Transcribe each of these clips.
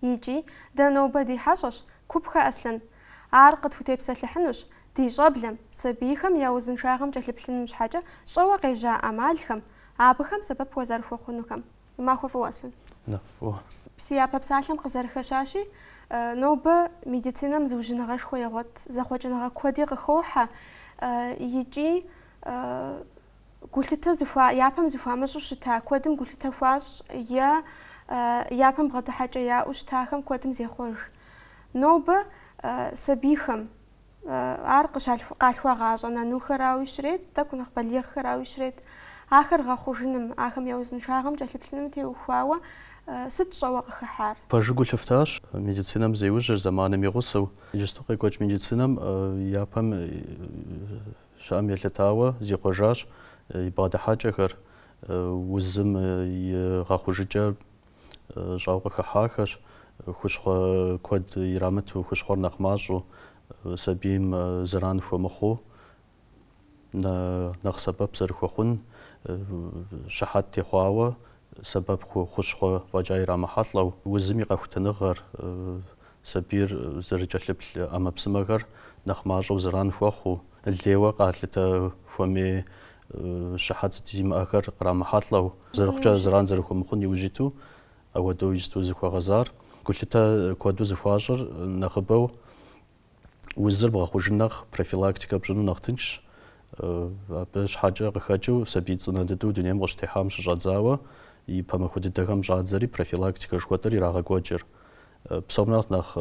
Икӏи, дэ нобэ ди хьэщӏэщ Купхэ Аслъэн. Ар къытхутепсэлъыхьынущ ди щӏэблэм, сабийхэм я узыншагъэм кӏэлъыплъыным щхьэкӏэ щӏэуэ къежьа ӏэмалхэм, абыхэм сэбэп уазэрыхуэхъунухэм. Уи махуэ фӏыуэ, Аслъэн. Нэхъ фӏыуэ. Си япэ псалъэм къызэрыхэщащи, нобэ медицинэм зыужьыныгъэшхуэ егъуэт, зэхъуэкӏыныгъэ куэди къыхохьэ икӏи Гулъытэ зыхуа, япэм зыхуамыщӏу щыта куэдым гулъытэ хуащӏ е япэм бгъэдыхьэкӏэ яӏэу щытахэм куэдым зехъуэж. Нобэ сабийхэм ар къыщ къалъхуагъащӏэ, нанухэрауи щрет, тӏэкӏу нэхъ балигъхэрауи щрет. Ахэр гъэхъужыным, ахэм я узыншагъэм кӏэлъыплъыным теухуауэ сыт щӏэуэ къыхыхьар? Пэжу гу лъыфтащ медицинэм зеужьыр зэманым и гъусэу. Иджысту къекӏуэкӏ медицинэм япэм Щыӏэм елъытауэ, зихъуэжащ и бгъэдыхьэкӏэхэр, узым и гъэхъужыкӏэ щӏэуэ къыхыхьахэщ, хущхъуэ куэд ирамыту, хущхъуэр нэхъ мащӏэу, сабийм зэран хуэмыхъуу, нэхъ сэбэп зэрыхуэхъун, щыхьэт техъуауэ, сэбэп хущхъуэ фӏэкӏа ирамыхьэлӏэу, узым и къэхутэныгъэр, Сабийр зэрыкӏэлъыплъ ӏэмэпсымэхэр нэхъ мащӏэу зэран хуэхъуу, лейуэ къалъытэ хуэмей щыхьэт зимыӏэхэр кърамыхьэлӏэу, зэрыхъукӏэ зэран зэрыхуэмыхъун иужь иту, ауэдэу иджысту зыхуэгъэзар. Гулъытэ куэду зыхуащӏыр нэхъыбэу узыр бгъэхъужын нэхъ, профилактикэ пщӏыну нэхъ тыншщ. Абы щхьэкӏэ къыхэкӏыу сабий цӏынэ дыдэу дунейм къыщытехьам щыщӏэдзауэ и пэ махуэ дыдэхэм щӏадзэри профилактикэ жыхуэтӏэр ирагъэкӏуэкӏыр. Псом нэхъ нэхъ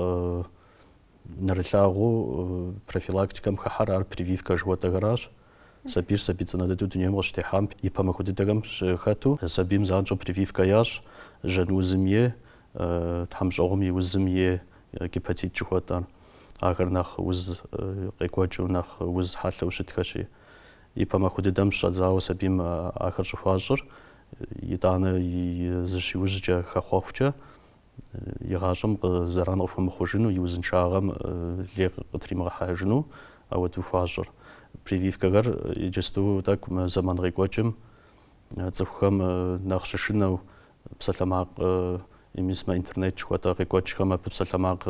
нэрылъагъуу профилактикэм хыхьэр ар прививкэ жыхуэтӏэхэращ. Сабийр сабий цӏынэ дыдэу дунейм къыщытехьам и пэ махуэ дыдэхэм щыхэту сабийм занщӏэу прививкэ ящӏ, жьэн узым е тхьэмщӏыгъум и узым е гепатит жыхуэтӏэр. Ахэр нэхъ уз къекӏуэкӏыу, нэхъ уз хьэлъэу щытхэщи. И пэ махуэ дыдэм щӏэдзауэ сабийм ахэр щӏыхуащӏыр, итӏанэ и зыщиужькӏэ, хэхъуэхукӏэ, и гъащӏэм зэран къыхуэмыхъужыну, и узыншагъэм лей къытримыгъэхьэжыну ауэдэу хуащӏыр. Прививкэхэр иджысту тӏэкӏу мы зэман къекӏуэкӏым цӏыхухэм нэхъ щышынэу псалъэмакъ мис мы интернет жыхуэтӏэ къекӏуэкӏхэм абы псалъэмакъ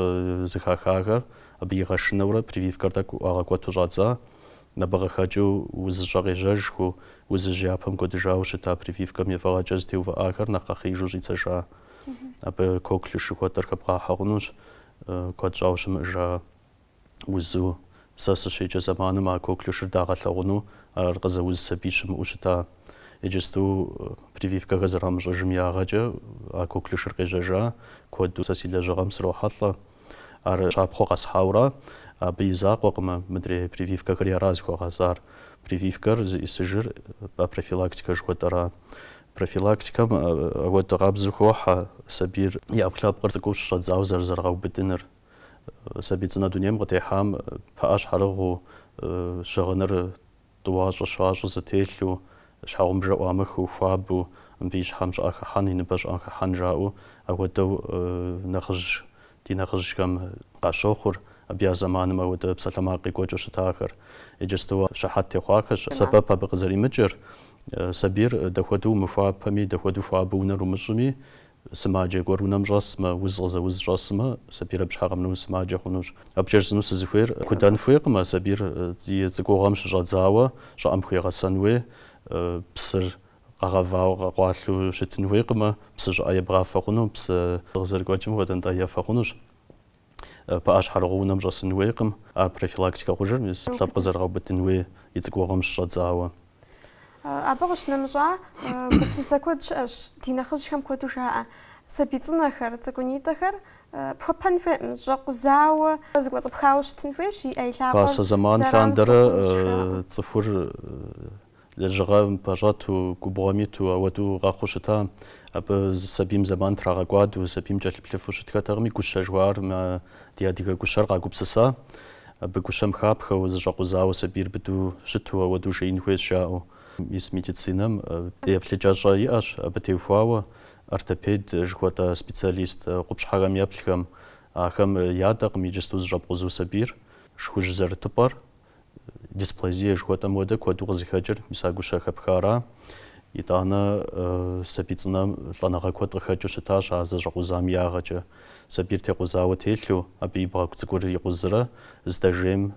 зэхахахэр абы игъэшынэурэ прививкэр тӏэкӏу ӏуагъэкӏуэту щӏадза. Абы къыхэкӏыу узыщӏэ къежьэжхэу, узыжь япэм кӏуэдыжауэ щыта прививкэм и фӏыгъэкӏэ зытеувыӏахэр нэхъ къэхъеижу щӏидзэжа. Абы коклюш жыхуэтӏэр хэбгъахьэ хъунущ куэд щӏауэ щымыӏжа узу. Сэ сыщеджэ зэманым а коклюшыр дагъэлъэгъуну, ар къызэуз сабий щымыӏэу щыта. Иджысту прививкэхэр зэрамыщӏыжым ягъэкӏэ а коклюшыр къежьэжа куэду сэ си лэжьыгъэм срохьэлӏэ. Ар щапхъэу къэсхьауэра, абы и закъуэкъымэ мыдрей прививкэхэри ара зыхуэгъэзар. Прививкэр зиӏысыжыр профилактикэ жыхуэтӏэра. Профилактикэм апхуэдэ къабзэу хохьэ сабийр и ӏэпкълъэпкъыр цӏыкӏуу щыщӏэдзауэ зэрызэрыгъэубыдыныр. Сабий цӏынэ дунейм къытехьам пыӏэ щхьэрыгъыу щыгъыныр Тӏуащӏэ-щащӏэ зытелъу, щхьэгъубжэ ӏуамыхыу, хуабэу, мыбы и щхьэм щӏыӏэ хыхьэн, и ныбэ щӏыӏэ хыхьэн жаӏэу, ауэдэу нэхъыжь, ди нэхъыжьхэм къащохъур, абы я зэманым ауэдэ псалъэмакъ къекӏуэкӏыу щытахэр. Иджысту щыхьэт техъуахэщ. Сэбэп абы къызэримыкӏыр, сабийр дахуэдэу умыхуапэми, дахуэдэу хуабэу унэр умыщӏыми, Сымаджэ гуэр унэм щӏэсмэ, уз къызэуз щӏэсмэ, сабийр абы щхьэ къэмынэну сымаджэ хъунущ. Абы кӏэрзыну сызыхуейр, кудан хуейкъым а сабийр и цӏыкӏугъэм щыщӏэдзауэ, щӏыӏэм хуегъэсэн хуей, псыр къэгъэвауэ, къэкъуалъу щытын хуейкъымэ, псы щӏыӏэ ебгъафэ хъуну, псы къызэрыкӏуэкӏым хуэдэ нтӏэ ефэ хъунущ. Пыӏэ щхьэрыгъыу унэм щӏэсын хуейкъым, ар профилактикэ хъужыр, мис лъэпкъ къызэрыгъэубыдын хуей и цӏыкӏугъэм щыщӏэдзауэ. Абы къыщынэмыщӏа, гупсысэ куэд щыӏэщ, ди нэхъыжьхэм куэду жаӏэ, сабий цӏынэхэр, цӏыкӏунитӏэхэр пхуэпэн хуейкъым, щӏэкъузауэ, зыкӏуэцӏыпхауэ щытын хуейщ, и ӏэ и лъэ. Пасэ зэман лъандэрэ цӏыхур Лэжьыгъэм пэщӏэту, губгъуэм иту, ауэдэу къэхъуу щыта. Абы сабийм зэман трагъэкӏуадэу, сабийм кӏэлъыплъыфу щытхэтэкъыми, гущэ жыхуаӏар мы ди адыгэ гущэр къагупсыса. Абы гущэм хапхэу, зыщӏэкъузауэ сабийр быдэу щыту, ауэдэу жеин хуейщ жаӏэу. Мис медицинэм дей еплъыкӏэщӏэ иӏэщ абы теухуауэ ортопед жыхуэтӏэ специалист къупщхьэхэм еплъхэм. Ахэм ядэкъым иджысту зыщӏэпкъузу сабийр, шхужь зэрытыпӏэр, Дисплазия жыхуэтӏэм хуэдэ куэду къызыхэкӏыр мис а гущэ хэпхара. Итӏанэ сабий цӏынэм лӏэныгъэ куэд къыхэкӏыу щытащ а зэщӏэкъузам ягъэкӏэ. Сабийр текъузауэ телъу, абы и бгъэгу цӏыкӏур икъузрэ здэжейм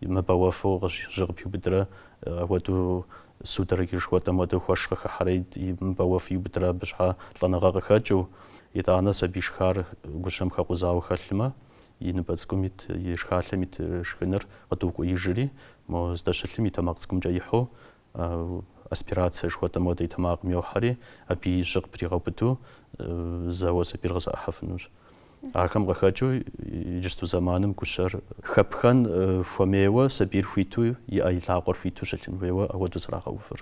мыбэуэфу жьы къыпиубыдрэ, апхуэдэу судороги жыхуэтӏэм хуэдэу хуэш къыхыхьэрэ мыбэуэфу иубыдрэ абы щхьа лӏэныгъэ къыхэкӏыу. Итӏанэ сабий шхар гущэм хэкъузауэ хэлъмэ, и ныбэ цӏыкӏум ит, и шхалъэм ит шхыныр къыдокӏуеижри, мо здэщылъым и тэмакъ цӏыкӏумкӏэ ихьу, аспирация жыхуэтӏэм хуэдэ и тэмакъым йохьэри, абы и жьы къыпригъэубыду, зэуэ сабийр къызэӏыхьэфынущ. Ахэм къыхэкӏыу, иджысту зэманым гущэр хэпхэн хуэмейуэ, сабийр хуиту, и ӏэ и лъакъуэр хуиту щылъын хуейуэ ауэдэу зэрагъэувыр.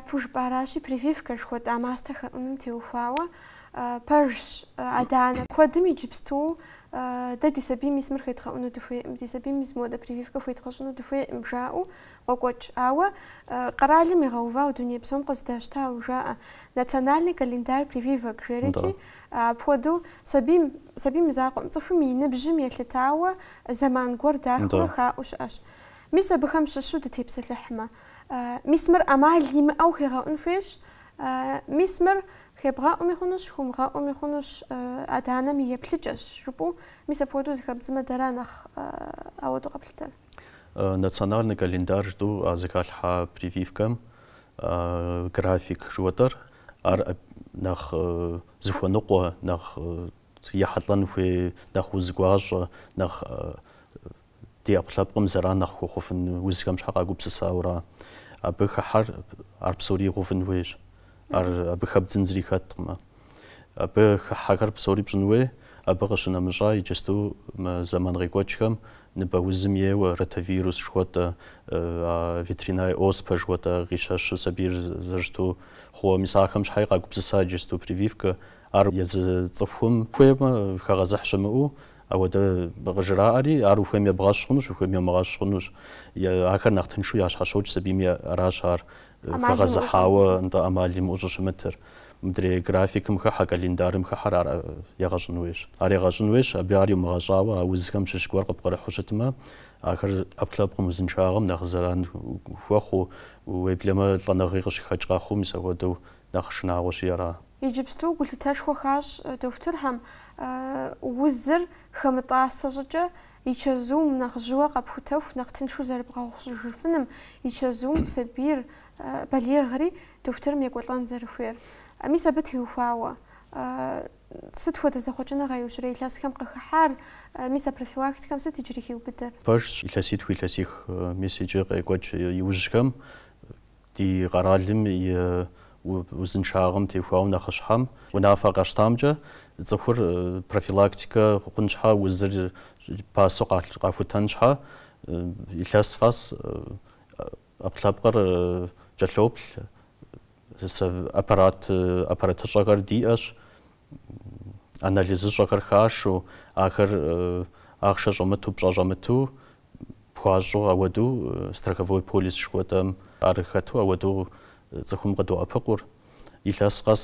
Япэу жыпӏаращи, прививкэ жыхуэтӏа мастэ хэӏуным теухуауэ пэжщ. Адэ-анэ куэдым иджыпсту дэ ди сабийм мис мыр хедгъэӏуну дыхуейкъым, ди сабийм мис моуэдэ прививкэ хуедгъэщӏыну дыхуейкъым жаӏэу Къокӏуэкӏ. Ауэ къэралым игъэувауэ дуней псом къыздащтауэ жаӏэ. Национальный календарь прививок жери икӏи, апхуэдэу сабийм, сабийм и закъуэм, цӏыхум и ныбжьым елъытауэ зэман гуэр дахыурэ хаӏуу щыӏэщ. Мис абыхэм щыщу дытепсэлъыхьмэ. Мис мыр ӏэмал имыӏэу хегъэӏун хуейщ. Мис мыр хебгъэӏуми хъунущ, хумыгъэӏуми хъунущ, адэ-анэм и еплъыкӏэщ, жыпӏэу. Мис апхуэдэу зыхэбдзмэ, дэра нэхъ ауэдэу къэплъытэр. Национальный календарь жытӏэу а зыхалъхьа прививкэм график жыуэтӏэр, ар нэхъ зыхуэныкъуэ, нэхъ ехьэлӏэн хуей, нэхъ уз гуащӏэ, нэхъ ди ӏэпкълъэпкъым зэран нэхъ хуэхъуфын узхэм щхьэ къагупсысауэ ара. Абы хыхьэр ар псори игъэувын хуейщ. Ар абы хэбдзын зыри хэткъым. Абы хыхьэхэр псори пщӏын хуей, абы къыщынэмыщӏа иджысту мы зэман къекӏуэкӏхэм ныбэ узым еуэ, ротавирус жыхуэтӏэ, ветряной оспэ жыхуэтӏэ къищэщу сабийр зэрыщыту хъууэ. Мис ахэм щхьэи къагупсыса иджысту прививкэ. Ар езы цӏыхум хуеймэ хэгъэзыхь щымыӏэу ауэдэ къыжраӏэри, ар ухуейм ебгъэщӏ хъунущ, ухуейм йомыгъэщӏ хъунущ. Ахэр нэхъ тыншу ящхьэщокӏ сабийми, аращ ар хэгъэзыхьауэ, нтӏэ, ӏэмал имыӏэу щӏыщымытыр. Мыдрей графикым хыхьэ, календарым хыхьэр ар егъэщӏын хуейщ. Ар егъэщӏын хуейщ, абы ар иумыгъэщӏауэ а узхэм щыщ гуэр къыпкърыхьу щытмэ, ахэр ӏэпкълъэпкъым узыншагъэм нэхъ зэран хуэхъуу, уеблэмэ лӏэныгъи къыщыхэкӏ къэхъуу, мис ахуэдэу нэхъ шынагъуэщи ара? Иджыпсту гулъытэшхуэ хуащӏ дохутырхэм узыр хэмытӏасэ щӏыкӏэ и чэзум нэхъ жьыуэ къэпхутэху нэхъ тыншу зэрыбгъэгъущыжыфыным, и чэзум сабийр, балигъри, дохутырым екӏуэлӏэн зэрыхуейр. Мис абы теухуауэ, сыт хуэдэ зэхъуэкӏыныгъэ иужьрей илъэсхэм къыхыхьар, мис а профилактикэм сыт иджыри хиубыдэр? Пэжщ, илъэситху илъэсих, мис иджы къекӏуэкӏ иужьхэм. Ди къэралым и узыншагъэм теухуауэ нэхъыщхьэм унафэ къащтамкӏэ, цӏыхур профилактикэ хъун щхьэ, узыр пасэу къахутэн щхьэ, илъэс къэс ӏэпкълъэпкъыр кӏэлъоплъ, аппаратыщӏэхэр диӏэщ. анализыщӏэхэр хашэу, ахэр ахъшэ щӏэмыту, пщӏэ щӏэмыту пхуащӏу, ауэду страховой полис жыхуэтӏэм ар хэту ауэду цӏыхум къыдоӏэпыкъур. Илъэс къэс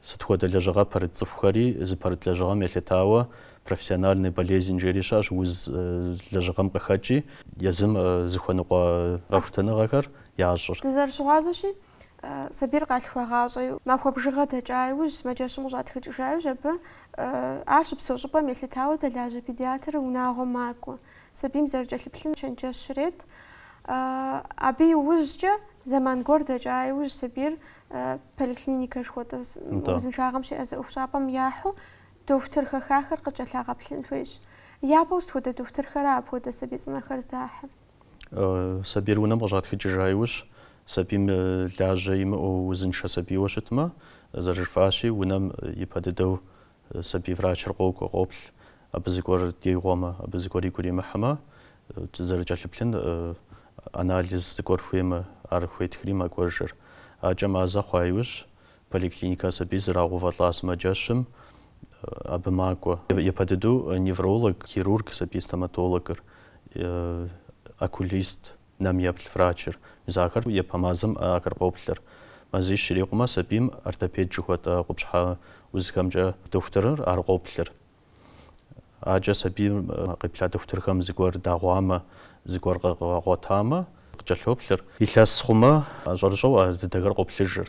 сыт хуэдэ лэжьыгъэ пэрыт цӏыхухэри зыпэрыт лэжьыгъэм елъытауэ профессиональный болезнь жери щыӏэщ, уз лэжьыгъэм къыхэкӏи, езым зыхуэныкъуэ къэхутэныгъэхэр ящӏыр. Дызэрыщыгъуазэщи, Сабийр къалъхуагъащӏэу, махуэ бжыгъэ дэкӏа иужь, сымаджэщым къыщӏатхыкӏыжа иужь, абы ар щыпсэу щӏыпӏэм елъытауэ дэлажьэ педиатр унагъуэм макӏуэ. Сабийм зэрыкӏэлъыплъын чэнджэщ ирет. Абы иужькӏэ, зэман гуэр дэкӏа иужь, сабийр поликлиникэ жыхуэтӏэ узыншагъэм щеӏэзэ ӏуэхущӏапӏэм яхьу дохутыр хэхахэр къыкӏэлъагъэплъын хуейщ. Япэу сыт хуэдэ дохутырхэра апхуэдэ сабий цӏынэхэр здахьыр? Сабийр унэм къыщӏатхыкӏыжа иужь, сабийм лажьэ имыӏэу узыншэ сабийуэ щытмэ, зэрыжыфӏащи, унэм ипэ дыдэу сабий врачыр къокӏуэ, къоплъ. Абы зыгуэр дигъуэмэ, абы зыгуэр игу иримыхьмэ, зэрыкӏэлъыплъын анализ зыгуэр хуеймэ, ар хуетхри макӏуэжыр. Акӏэ мазэ хъуа иужь, Поликлиникэ сабий зрагъэувэлӏа сымаджэщым абы макӏуэ. Япэ дыдэу невролог, хирург, сабий стоматологыр, окулист, нэм еплъ врачыр, мис ахэр япэ мазэм ахэр къоплъыр. Мазищ ирикъумэ сабийм ортопед жыхуэтӏэ къупщхьэ узхэмкӏэ дохутырыр ар къоплъыр. Акӏэ сабийм къеплъа дохутырхэм зыгуэр дагъуамэ, зыгуэр къагъуэтамэ, къыкӏэлъоплъыр. Илъэс хъумэ, щӏэрыщӏэу а дыдэхэр къоплъыжыр.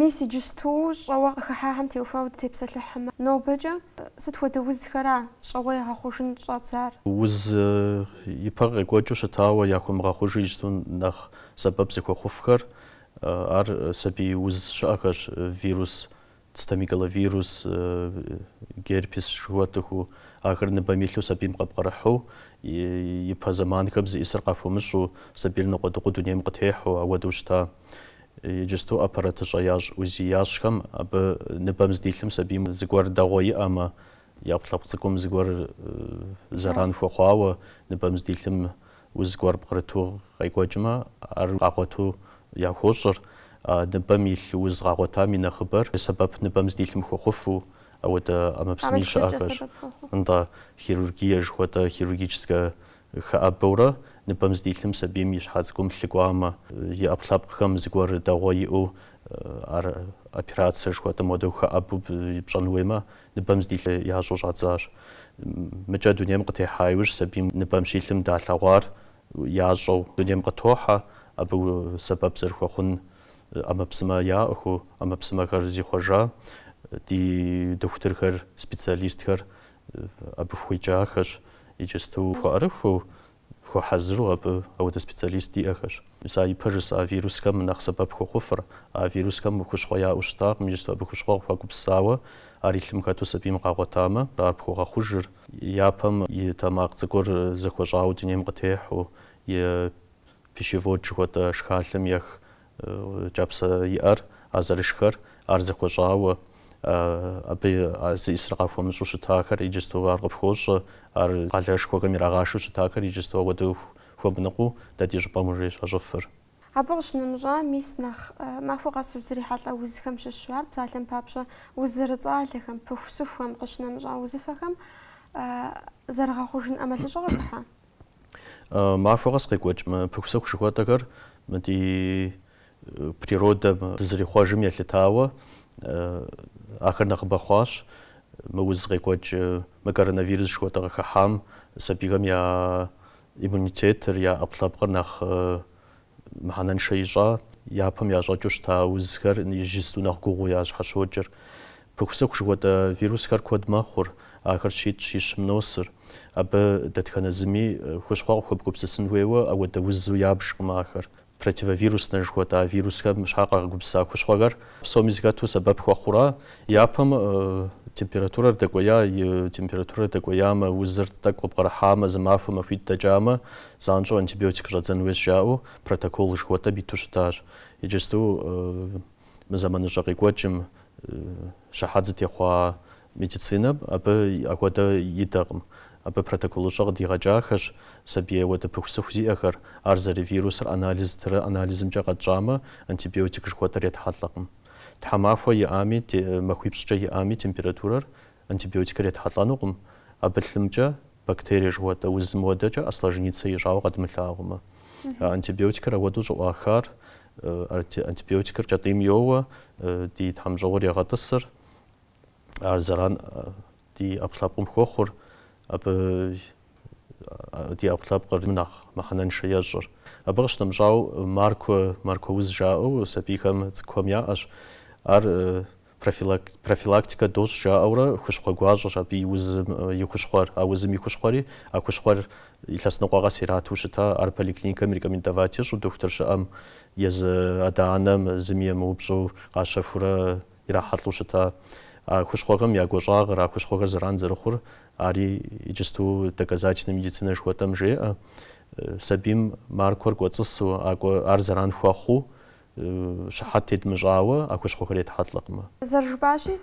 Мис иджысту щӏэуэ къыхыхьахэм теухуауэ дытепсэлъыхьмэ, нобэкӏэ сыт хуэдэ узхэра щӏэуэ ягъэхъужын щӏадзар? Уз ипэ къекӏуэкӏыу щытауэ яхуэмыгъэхъужу иджысту нэхъ сэбэп зыхуэхъуфхэр, ар сабий уз щыӏэхэщ, вирус цитомегаловирус, герпес жыхуэтӏэхэу, ахэр ныбэм илъу сабийм къэпкърыхьу, ипэ зэманхэм зиӏысыр къахуэмыщӏу, сабийр ныкъуэдыкъуу дунейм къытехьу, ауэдэу щыта. Иджысту аппаратыщӏэ ящӏ УЗИ ящӏхэм, абы ныбэм здилъым сабийм зыгуэр дагъуэ иӏэмэ, я ӏэпкълъэпкъ цӏыкӏум зыгуэр зэран хуэхъуауэ ныбэм здилъым, уз гуэр пкърыту къекӏуэкӏмэ, ар къагъуэту яхуощӏыр, ныбэм илъ уз къагъуэтам и нэхъыбэр сэбэп ныбэм здилъым хуэхъуфу, ауэдэ ӏэмэпсыми щыӏэхэщ, нтӏэ, хирургие жыхуэтӏэ хирургическэ хэӏэбэурэ ныбэм здилъым сабийм и щхьэ цӏыкӏум лъы кӏуамэ, и ӏэпкълъэпкъхэм зыгуэр дагъуэ иӏэу ар операцие жыхуэтӏэм хуэдэу хэӏэбу пщӏэн хуеймэ, Ныбэм здилъэ ящӏэу щӏадзащ. Мыкӏэ дунейм къытехьа иужь сабийм ныбэм щилъым далъэгъуар ящӏэу дунейм къытохьэ, абы сэбэп зэрыхуэхъун ӏэмэпсымэ яӏэхэу, ӏэмэпсымэхэр зихъуэжа ди дохутырхэр, специалистхэр абы хуеджахэщ, иджысту хуэӏэрыхуэу Хуэхьэзыру абы ауэдэ специалист диӏэхэщ. Мис а ипэ жысӏа вирусхэм нэхъ сэбэп хуэхъуфыр, а вирусхэм хущхъуэ яӏэу щытакъым, иджысту абы хущхъуэ къыхуагупсысауэ, ар и лъым хэту сабийм къагъуэтамэ, ар пхуэгъэхъужыр. Япэм и тэмакъ цӏыкӏур зэхуэщӏауэ дунейм къытехьу, и пищевод жыхуэтӏэ шхалъэм ех кӏапсэ иӏэр, а зэрышхэр, ар зэхуэщӏауэ, абы зы ӏисыр къахуэмыщӏу щытахэр иджысту ар къыпхуощӏэ, ар къалэшхуэхэм ирагъашэу щытахэр иджысту ауэдэу хуэмыныкъуу дэ ди щӏыпӏэм уже щащӏыфыр. Абы къыщынэмыщӏа, мис нэхъ махуэ къэс узрихьэлӏэ узхэм щыщу, ар псалъэм папщӏэ уз зэрыцӏалэхэм, пыхусыхухэм къыщынэмыщӏа узыфэхэм зэрыгъэхъужын ӏэмалыщӏэ къыхыхьа? Махуэ къэс къекӏуэкӏ мы пыхусыху жыхуэтӏэхэр мы ди природэм дызэрихъуэжым елъытауэ ахэр нэхъыбэ хъуащ. Мы уз къекӏуэкӏ мы коронавирус жыхуэтӏэ къыхыхьам сабийхэм я иммунитетыр, я ӏэпкълъэпкъыр нэхъ мыхьэнэншэ ищӏа, япэм ящӏэкӏыу щыта узхэр иджысту нэхъ гугъуу ящхьэщокӏыр. Пыхусыху жыхуэтӏэ вирусхэр куэд мэхъур, ахэр щитӏ щищым носыр. Абы дэтхэнэ зыми хущхъуэ къыхуэбгупсысын хуейуэ ауэдэ узу ябжкъым ахэр. Противовируснэ жыхуэтӏа вирусхэм щхьэ къагупсыса хущхъуэхэр псоми зыхэту сэбэп хуэхъура. Япэм температурэр дэкӏуея, и температурэр дэкӏуеямэ, узыр тӏэкӏу къыпкърыхьамэ, зы махуэ махуитӏ дэкӏамэ, Занщӏэу антибиотик щӏэдзэн хуейщ жаӏэу протокол жыхуэтӏэм иту щытащ. Иджысту мы зэманыщӏэ къекӏуэкӏым щыхьэт зытехъуа медицинэм абы ахуэдэ идэкъым. Абы протоколыщӏэ къыдигъэкӏахэщ сабий ауэдэ пыхусыху зиӏэхэр, ар зэрывирусыр анализ ттрэ анализымкӏэ къэтщӏамэ, антибиотик жыхуэтӏэр етхьэлӏэкъым. Тхьэмахуэ иӏами, махуипщӏкӏэ иӏами температурэр Антибиотикыр етхьэлӏэнукъым, абы лъымкӏэ бактерие жыхуэтӏэ узым хуэдэкӏэ осложниться ищӏауэ къэдмылъагъумэ. А антибиотикыр ахуэдэу щӏыӏуахар, антибиотикыр кӏэтӏийм йоуэ, ди тхьэмщӏыгъур егъэтӏысыр, ар зэран ди ӏэпкълъэпкъым хуэхъур, абы ди ӏэпкълъэпкъыр нэхъ мыхьэнэншэ ещӏыр. Абы къыщынэмыщӏауэ, маркуэ, маркуэ уз жаӏэу сабийхэм, цӏыкӏухэм яӏэщ. Ар Профилактикэ дощӏ жаӏэурэ хущхъуэ гуащӏэщ абы и узым и хущхъуэр, а узым и хущхъуэри, а хущхъуэр илъэс ныкъуэ къэс ирату щыта, ар поликлиникэм ирекомендовать ищӏу дохутыр щыӏэм, езы адэ-анэм зыми емыупщӏу къащэхурэ ирахьэлӏэу щыта. А хущхъуэхэм я гуащӏагъыр, а хущхъуэхэр зэран зэрыхъур, ари иджысту доказательнэ медицинэ жыхуэтӏэм жеӏэ. Сабийм маркуэр кӏуэцӏысу, ар зэран хуэхъуу, щыхьэт тедмыщӏауэ а хущхъуэхэр етхьэлӏэкъымэ. Зэрыжыпӏащи,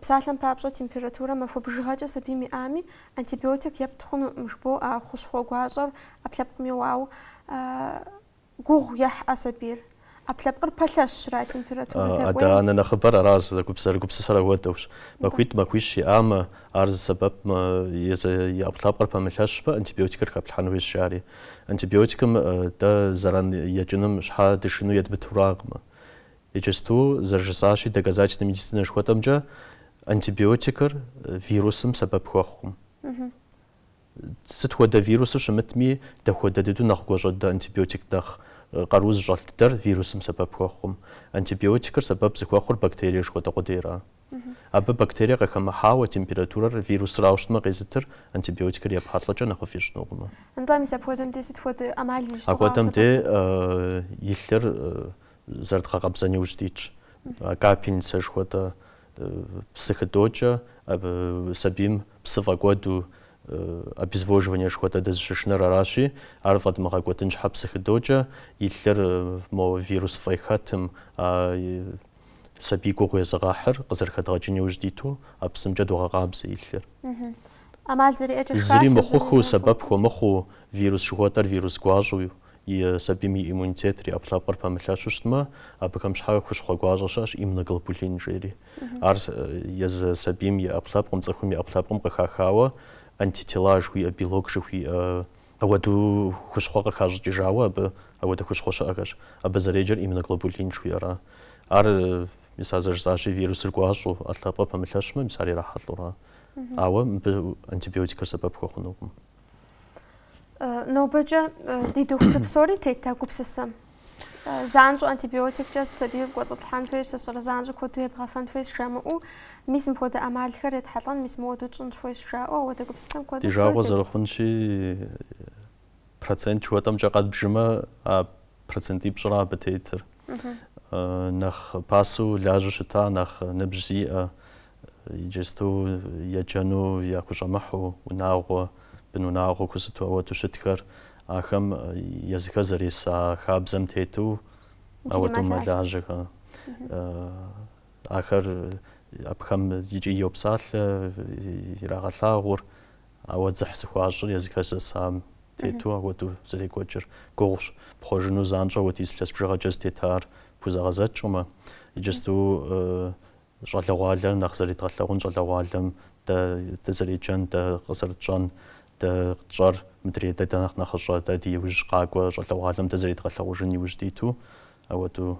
псалъэм папщӏэ температурэ махуэ бжыгъэкӏэ сабийм иӏами, антибиотик епт хъунукъым, жыбоӏэ, а хущхъуэ гуащӏэр ӏэпкълъэпкъым еуауэ гугъу ехь а сабийр. ӏэпкълъэпкъыр пэлъэщщ ара температурэ дэкӏуейм. Адэ-анэ нэхъыбэр аращ зэрыгупсысэр ауэдэущ. Махуитӏ-махуищ иӏамэ, Ар зы сэбэпмэ, езы и ӏэпкълъэпкъыр пэмылъэщмэ, антибиотикыр хэплъхьэн хуейщ, жаӏэри. Антибиотикым дэ зэран екӏынум щхьэ дышыну едмытуракъымэ. Иджысту, зэрыжысӏащи, доказательнэ медицинэ жыхуэтӏэмкӏэ, антибиотикыр вирусым сэбэп хуэхъукъым. Сыт хуэдэ вирусыр щымытми, дапхуэдэ дыдэу нэхъ гуащӏэдэ антибиотик нэхъ къару зыщӏэлъ дыдэр вирусым сэбэп хуэхъукъым. Антибиотикыр сэбэп зыхуэхъур бактерие жыхуэтӏэ къудейра? Абы бактерие къыхэмыхьауэ, температурэр вирусрауэ щытмэ къезытыр, антибиотикыр епхьэлӏэкӏэ нэхъыфӏ ищӏынукъымэ. Нтӏэ, мис апхуэдэм де сыт хуэдэ ӏэмал ищӏ? Апхуэдэм де и лъыр зэрыдгъэкъэбзэн иужь дитщ. Капельницэ жыхуэтӏэ псы хыдокӏэ сабийм псы фӏэкӏуэду обезвоживание жыхуэтӏэ дызыщышынэр аращи, ар фӏэдмыгъэкӏуэдын щхьэ псы хыдокӏэ, и лъыр мо вирус фӏей хэтым, а сабий гугъу езыгъэхьыр къызэрыхэдгъэкӏын иужь диту а псымкӏэ догъэкъабзэ и лъыр. ӏэмал зэриӏэкӏэ шхалъэм зыри мыхъухыу, сэбэп хуэмыхъуу, вирус жыхуэтӏэр вирус гуащӏэу и сабийм и иммунитетыр, и ӏэпкълъэпкъыр пэмылъэщу щытмэ, абыхэм щхьэ хущхъуэ гуащӏэ щыӏэщ, иммуноглобулин жери. Ар езы сабийм и ӏэпкълъэпкъым, цӏыхум и ӏэпкълъэпкъым къыхахауэ антитела жыхуиӏэ, белок жыхуиӏэ ауэдэу хущхъуэ къыхащӏыкӏыжауэ абы ауэдэ хущхъуэ щыӏэхэщ. Абы зэреджэр иммуноглобулин жыхуиӏэра. Ар, мис ар зэрыжысӏащи, вирусыр гуащӏэу ӏэпкълъэпкъыр пэмылъэщмэ, мис ар ирахьэлӏэура. Ауэ абы антибиотикыр сэбэп хуэхъунукъым. Нобэкӏэ ди дохутыр псори тет а гупсысэм. Занщӏэу антибиотиккӏэ сабийр кӏуэцӏыплъхьэн хуейщ, сыщӏэрэ занщӏэу куэду ебгъэфэн хуейщ жамыӏэу, мис мыпхуэдэ ӏэмалхэр етхьэлӏэн, мис мыуэду тщӏынщ хуейщ жаӏэу, ауэдэ гупсысэм куэду. Ди жагъуэ зэрыхъунщи, процент жыхуэтӏэмкӏэ къэдбжымэ, а процентипщӏра абы тетыр. нэхъ пасэу лажьэу щыта, нэхъ ныбжь зиӏэ, иджыстэу еджэну яхущӏэмыхьу унагъуэ, бынунагъуэ хъуу сыту ауэдэу щытхэр, ахэм езыхэр зэреса хабзэм тету ауэдэу мэлажьэхэ. Ахэр абыхэм икӏи йопсалъэ, ирагъэлъагъур. Ауэ дзыхь зыхуащӏыр езыхэр зэсам тету апхуэдэу зэрекӏуэкӏыр гугъущ. Пхъуэжыну занщӏэу ауэдиз илъэс бжыгъэкӏэ зытетар пхузэгъэдзэкӏкъым, иджысту щӏалэгъуалэр нэхъ зэредгъэлъэгъун, щӏалэгъуалэм дэ дызэреджэн, дэ къызэрытщӏэн, дэ тщӏэр мыдрей дэ, дэ нэхъ нэхъыщӏэ, дэ ди иужь къакӏуэ щӏалэгъуалэм дэ зэредгъэлъэгъужын иужь диту апхуэдэу.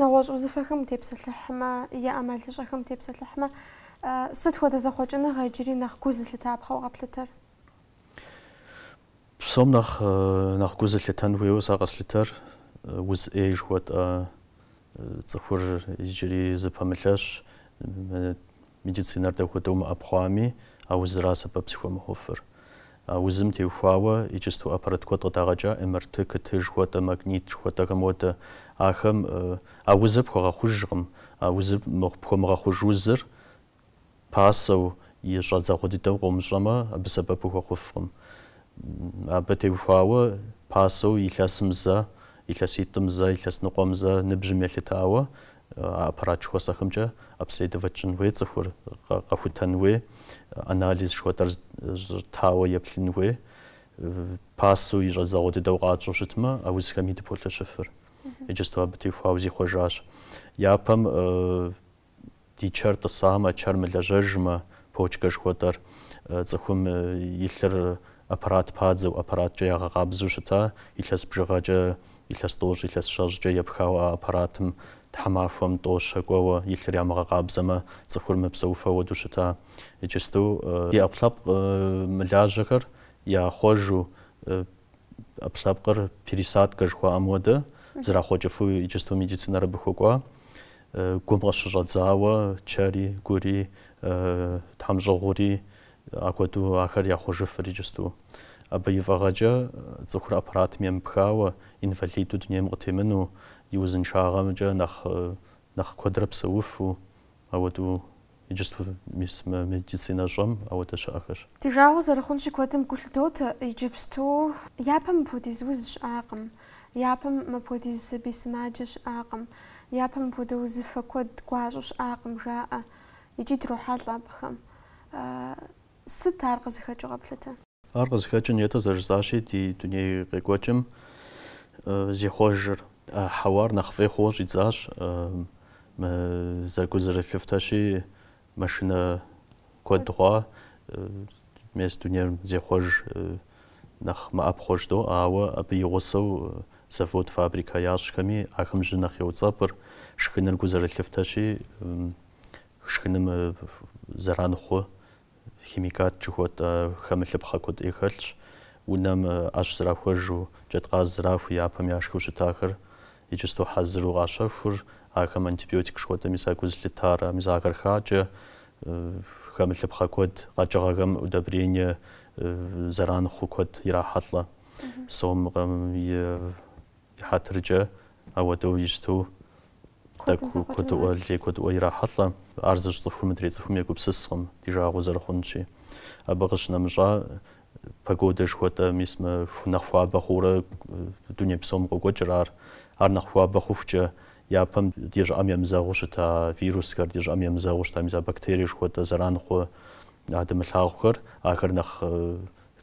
Нэгъуэщӏ узыфэхэм утепсэлъыхьмэ, е ӏэмалыщӏэхэм утепсэлъыхьмэ, сыт хуэдэ зэхъуэкӏыныгъэ иджыри нэхъ гу зылъытапхъэу къэплъытэр? Псом нэхъ нэхъ гу зылъытэн хуейуэ сэ къэслъытэр уз ӏей жыхуэтӏэ цӏыхур иджыри зыпэмылъэщ, медицинэр дапхуэдэу мыӏэпхъуами, а узыра сэбэп зыхуэмыхъуфыр. А узым теухуауэ иджысту аппарат куэд къыдагъэкӏа, МРТ, КТ жыхуэтӏэ, магнит жыхуэтӏэхэм уэдэ. Ахэм а узыр пхуэгъэхъужкъым. А узыр пхуэмыгъэхъуж узыр пасэу и щӏэдзэгъуэ дыдэу къомыщӏэмэ, абы сэбэп ухуэхъуфкъым. Абы теухуауэ пасэу илъэсым зэ, илъэситӏым зэ, илъэс ныкъуэм зэ, ныбжьым елъытауэ А аппарат жыхуэсӏэхэмкӏэ обследовать щӏын хуей цӏыхур, къэхутэн хуей, анализ жыхуэтӏэр итауэ еплъын хуей, пасэу и щӏэдзэгъуэ дыдэу къэтщӏэу щытмэ, а узхэми дыполъэщыфыр. Иджысту абы теухуауэ зихъуэжащ. Япэм ди чэр тӏысамэ, чэр мылэжьэжмэ, почкэ жыхуэтӏэр, цӏыхум и лъыр аппарат падзэу, аппараткӏэ ягъэкъабзэу щыта, илъэс бжыгъэкӏэ Илъэс тӏощӏ, илъэс щэщӏкӏэ епхауэ а аппаратым, тхьэмахуэм, тӏо, щэ кӏуэуэ, и лъыр ямыгъэкъабзэмэ, цӏыхур мыпсэуфу ауэдэу щыта. Иджысту. Ди ӏэпкълъэпкъ мылажьэхэр яхъуэжу, ӏэпкълъэпкъыр пересадкэ жыхуаӏэм уэдэ, зэрахъуэкӏыфу иджысту медицинэр абы хуэкӏуа. Гум къыщыщӏэдзауэ чэри, гури, тхьэмщӏыгъури, Апхуэдэу ахэр яхъуэжыфыр иджысту. Абы и фӏыгъэкӏэ цӏыхур аппаратым емыпхауэ, инвалиду дунейм къытемыну, и узыншагъэмкӏэ нэхъ нэхъ куэдрэ псэуфу, ауэдэу иджысту мис медицинэ щӏэм ауэдэ щыӏэхэщ. Ди жагъуэ зэрыхъунщи куэдым гу лъыдотэ иджыпсту. Япэм мыпхуэдиз уз щыӏакъым, япэм мыпхуэдиз сабий сымаджэ щыӏакъым, япэм мыпхуэдэ узыфэ куэд гуащӏэу щыӏакъым, жаӏэ. икӏи дрохьэлӏэ абыхэм. Сыт ар къызыхэкӏыу къэплъытэ? Ар къызыхэкӏыр нетӏэ зэрыжысӏащи, ди дуней къекӏуэкӏым зехъуэжыр. Хьэуар нэхъ фӏей хъууэ щӏидзащ, зэры, гу зэрылъыфтэщи, машинэ куэд хъуа, мес дунейм зехъуэж нэхъ мэӏэпхъуэ жыдоӏэ, ауэ абы и гъусэу завод-фабрикэ ящӏхэми ахэм жьы нэхъ еуцӏэпӏыр, шхыныр гу зэрылъыфтэщи, Шхыным зэран хъу химикат жыхуэтӏэ хэмылъыпхъэ куэд ӏей хэлъщ. Унэм ӏэщ зэрахуэжу, джэдкъаз зэрахуэу япэм яшхыу щытахэр иджысту хьэзыру къащэхур, ахэм антибиотик жыхуэтӏэ мис а гу зылъытар, мис ахэр хакӏэ, хэмылъыпхъэ куэд, къэкӏыгъэхэм удобрение зэран хъу куэд ирахьэлӏэ. Сомым и хьэтыркӏэ Ауэдэу щыту тӏэкӏу куэдыӏуэ лей куэдыӏуэ ирахьэлӏэ. Ар зыщӏ цӏыхур мыдрей цӏыхум егупсыскъым ди жагъуэ зэрыхъунщи. Абы къыщынэмыщӏа, погодэ жыхуэтӏэ мис мы нэхъ хуабэ хъуурэ дуней псом къокӏуэкӏыр ар. Ар нэхъ хуабэ хъухукӏэ, япэм ди щӏыӏэм емызэгъыу щыта вирусхэр, ди щӏыӏэм емызэгъыу щыта мис а бактерие жыхуэтӏэ зэран хъу а дымылъагъухэр, ахэр нэхъ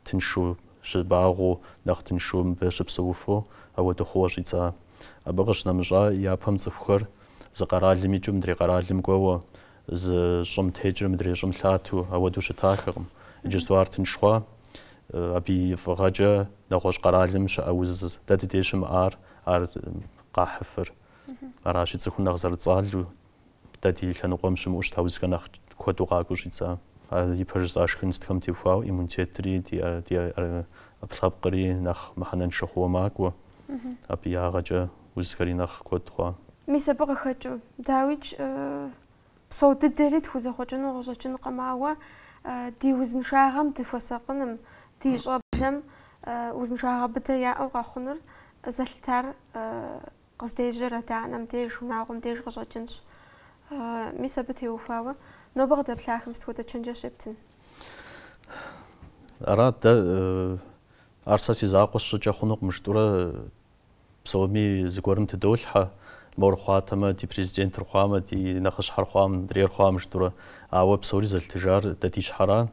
тыншу щыбагъуэу, нэхъ тыншу мыбы щыпсэуфу ауэдэ хъууэ щӏидза. Абы къыщынэмыщӏа, япэм цӏыхухэр зы къэралым икӏыу мыдрей къэралым кӏуэуэ, зы щӏым текӏыу мыдрей щӏым лъату, ауэдэу щытахэкъым. Иджысту ар тынш хъуа. Абы и фӏыгъэкӏэ нэгъуэщӏ къэралым щыӏэ уз дэ дыдей щымыӏар ар къахьыфыр. Аращи, цӏыхум нэхъ зэрыцӏалу Дэ ди лъэныкъуэм щымыӏэу щыта узхэр нэхъ куэду къакӏуэу щӏидза? А ипэ жысӏа шхын сытхэм техуауэ иммунитетри ди ӏэпкълъэпкъри нэхъ мыхьэнэншэ хъууэ макӏуэ. Абы и ягъэкӏэ узхэри нэхъ куэд хъуа? Мис абы къыхэкӏыу, дауикӏ, псо дыдэри тхузэхъуэкӏыну къыщӏэкӏынкъым, ауэ ди узыншагъэм дыхуэсакъыным, ди щӏэблэм узыншагъэ быдэ яӏэу къэхъунур зэлъытар Къыздежьэр адэ-анэм деж, унагъуэм деж къыщӏэкӏынщ. Мис абы теухуауэ нобэ къыдэплъахэм сыт хуэдэ чэнджэщ щептын? Ара дэ ар сэ си закъуэ сщӏыкӏэ хъунукъым жытӏурэ, псоми зыгуэрым тыдолъхьэ, мор хъуатэмэ, ди президентыр хъуамэ, ди нэхъыщхьэр хъуа, мыдрейр хъуамэ, жытӏурэ. Ауэ псори зэлъытыжар дэ ди щхьэра,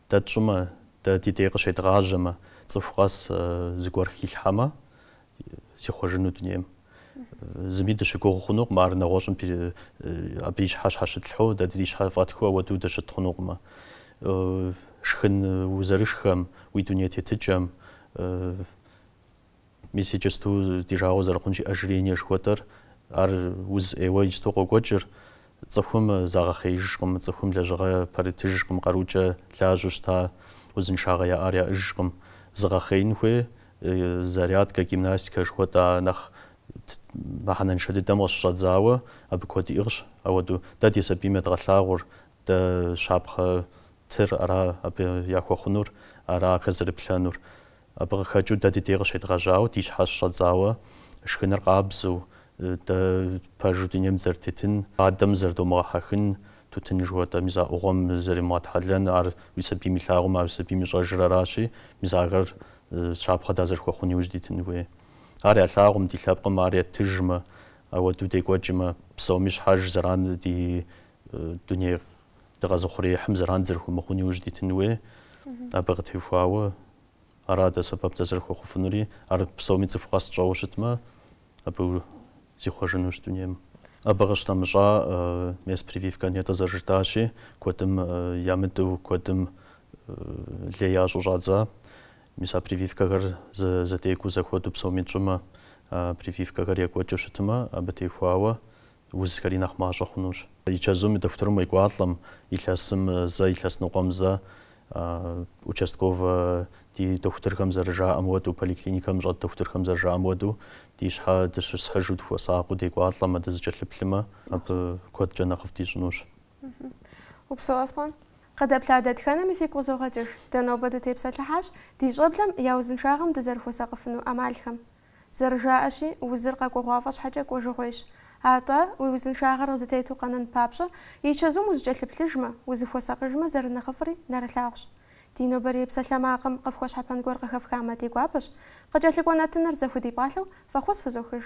дэ тщӏымэ, дэ ди дей къыщедгъажьэмэ, цӏыху къэс зыгуэр хилъхьэмэ, Зихъуэжыну дунейм. Зыми дыщыгугъ хъунукъым, ар нэгъуэщӏым абы и щхьэ щхьэщытлъхьэу дэ ди щхьэ фӏэтхыу ауэдэу дыщыт хъунукъымэ. Шхын узэрышхэм, уи дуней тетыкӏэм, мис иджысту ди жагъуэ зэрыхъунщи, ожирение жыхуэтӏэр, ар уз ӏейуэ иджысту къокӏуэкӏыр, Цӏыхум загъэхъеижкъым, цӏыхум лэжьыгъэ пэрытыжкъым, къарукӏэ лажьэу щыта узыншагъэ яӏар яӏыжкъым. Зыгъэхъеин хуей зарядкэ, гимнастикэ жыхуэтӏэ нэхъ мыхьэнэншэ дыдэм къыщыщӏэдзауэ абы куэд иӏыгъщ. Ауэдэу дэ ди сабийм едгъэлъагъур дэ щапхъэ тыр ара абы яхуэхъунур, ара ахэр зэрыплъэнур. Абы къыхэкӏыу дэ ди дей къыщедгъэжьауэ, ди щхьэ щыщӏэдзауэ, шхыныр къабзэу, дэ пэжу дунейм дызэрытетын, фадэм зэрыдомыгъэхьэхын, тутын жыхуэтӏэ мис а ӏугъуэм зэримыгъэтхьэлэн, ар уи сабийм илъагъумэ, ар уи сабийм ищӏэжыр аращи, мис ахэр щапхъэ дазэрыхуэхъун иужь дитын хуей. Ар ялъагъум, ди лъэпкъым ар етыжмэ, ауэдэу декӏуэкӏмэ, псоми щхьэж зэран ди Дуней дыкъэзыухъуреихьым зэран зэрыхуэмыхъун иужь дитын хуей, абы къытехуауэ ара дэ сэбэп дызэрыхуэхъуфынури, ар псоми цӏыху къэс тщӏэуэ щытмэ, абы зихъуэжынущ дунейм. Абы къыщынэмыщӏа мес прививкэ нетӏэ зэрыжытӏащи, куэдым ямыдэу, куэдым лей ящӏу щӏадза. Мис а прививкэхэр зэдекӏуу зэхуэду псоми тщӏымэ, а прививкэхэр екӏуэкӏыу щытмэ, абы техуауэ узхэри нэхъ мащӏэ хъунущ. И чэзум, и дохутырым уекӏуалӏэм, илъэсым зэ, илъэс ныкъуэм зэ, участковэ ди дохутырхэм зэрыжаӏэм уэду, поликлиникэм щӏэт дохутырхэм зэрыжаӏэм уэду, ди щхьэ дыщысхьыжу дыхуэсакъыу декӏуалӏэмэ, дызыкӏэлъыплъымэ, абы куэдкӏэ нэхъыфӏ дищӏынущ. Упсэу, Аслъэн. Къыдэплъа дэтхэнэми фигу къызогъэкӏыж. Дэ нобэ дытепсэлъыхьащ ди щӏэблэм я узыншагъэм дызэрыхуэсакъыфыну ӏэмалхэм. Зэрыжаӏэщи, узыр къэкӏуэгъуафӏэ щхьэкӏэ кӏуэжыгъуейщ. Атӏэ, уи узыншагъэр къызытету къэнэн папщӏэ, и чэзум узыкӏэлъыплъыжмэ, узыхуэсакъыжмэ зэрынэхъыфӏри нэрылъагъущ. Ди нобэрей псалъэмакъым къыфхуэщхьэпэн гуэр къыхэфхамэ ди гуапэщ, къыкӏэлъыкӏуэ нэтыныр зэхудипӏалъэу фӏэхъус фызохыж.